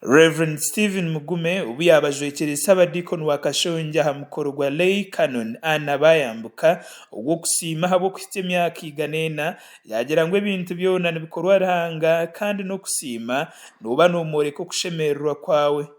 Rev. Stephen Mugume obu yaabajwekyere Sabadiikoni wa Kashongye aha mukoro gwa Lay Canon Anna Bayambuka ogw'okusiima ahabw'okuhitsya emyaka igana ena, yaagira ngu ebintu byona nibikorwa Ruhanga kandi n'okusiima nooba noomworeka okushemererwa kwawe.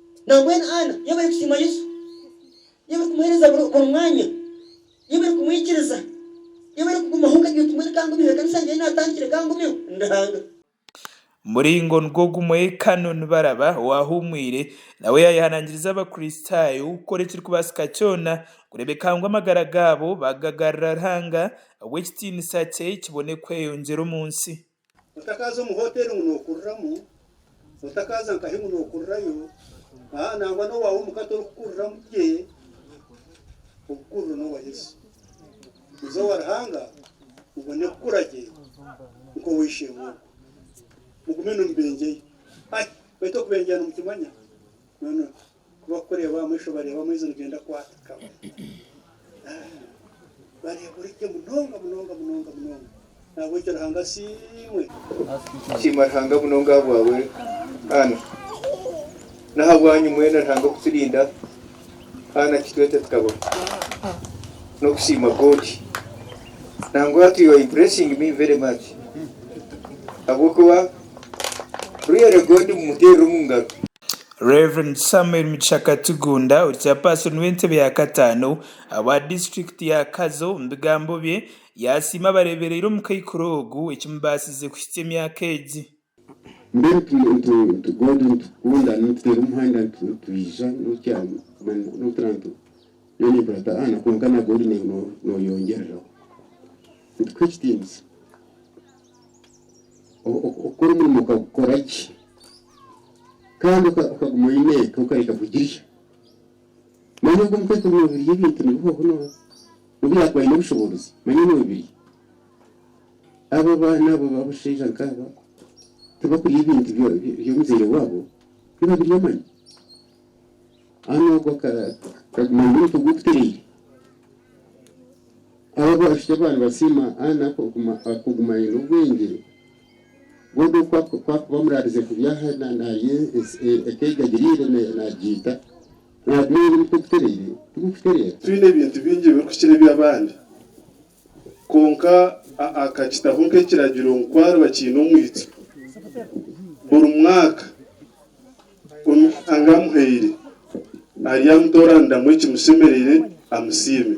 Nambwenu Ana, iwe barikusiima Yesu, iwe barikumuheereza buri mwanya, iwe barikumwikiriza, iwe barikugumaho okagira oti, Mbwenu ka ngumyeho, ekanisa ngyenyi naatandikire, ka ngumyeho, ndi Ruhanga. Muringo nigwo gumwe, Canon Baraba owaahuumwire nawe yaayehanangiriza Abakristaayo kukora ekirikubaasika kyona kureebeka ngu amagara gaabo baagagarurira Ruhanga ahabw'ekitiinisa kye kibone kweyongyera omu nsi. Otakaaza omu hoteeri ngu nookuriramu, otakaaza nkahi ngu nookurirayo, aa, nangwa n'owaawe omuka torikukuriramu gye. Obukuriro n'obwa Yesu. Iza owa Ruhanga obone kukura gye nk'ow'eishe-emwe ogwo. Mugume nimubenjayo. Ai, baitu okubenjaya nimukimanya? Noono. Ku barikureeba aha maisho bareeba amaizi nigenda kwata kabona. Bareeba ori gye munonga munonga munonga munonga. Nahabw'ekyo Ruhanga asiimwe. Tusiima Ruhanga munonga ahabwawe Ana. N'ahabwanyu mwena Ruhanga okuturinda Ana kitwete tukabona. N'okusiima God. Nangwa to your impressing me very much. Ahabw'okuba really God mumuteerire omu ngaro. Rev. Samuel Mugisha Katugunda ori kyapaasoni w'entebe ya kataano owa disiturikiti ya Kazo omu bigambo bye yaasiima abareebereire omu kaikuru ogu ekimubaasize kuhitsya emyaka egi. Oku omurimo okagukora gye kandi okaguma oine eka okareka kugirya. Manya ogu omukazi noobirya ebintu nibihoho obu yaakuba aine obushoboorozi manya noobirya. Abo abaana abo abashaija nkaabo tibakurya ebintu by'omuzaire waabo nibabirya manya. Haza n'ogwo akaguma aine omutwe gukutereire. Abo abishiki abaana basiima Anna kuguma aine obwengye. Bodo kwakuba amuraarize kubi aha naarya eka ei gagiriire naagiita, naaguma aine omutwe gutereire tigurikutereera. Twine ebintu bingi ebirikukira eby'abandi. Kwonka akakitaho nk'ekiragiro ngu ku ariba akiine omwitsyo, buri mwaka omi Nyankanga amuhaire, aryamutooraniiramu ekimushemereire amusiime.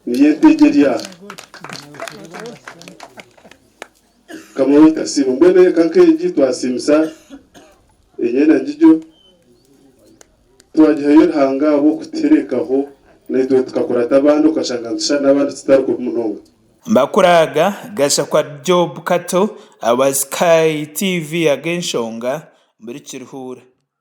Niyetegyeria Mukama waitu asiimwe. Mbwenu eka nk'egi twasiimisa enyena ngigyo, twagihayo Ruhanga ahabw'okutuherekaho naitwe tukakurata abandi okashanga nitushushana n'abandi tutari kubi munonga. Mbakuraaga, Gashakwa Job Kato, Our Sky TV Ag'enshonga, Buri Kiruhuura.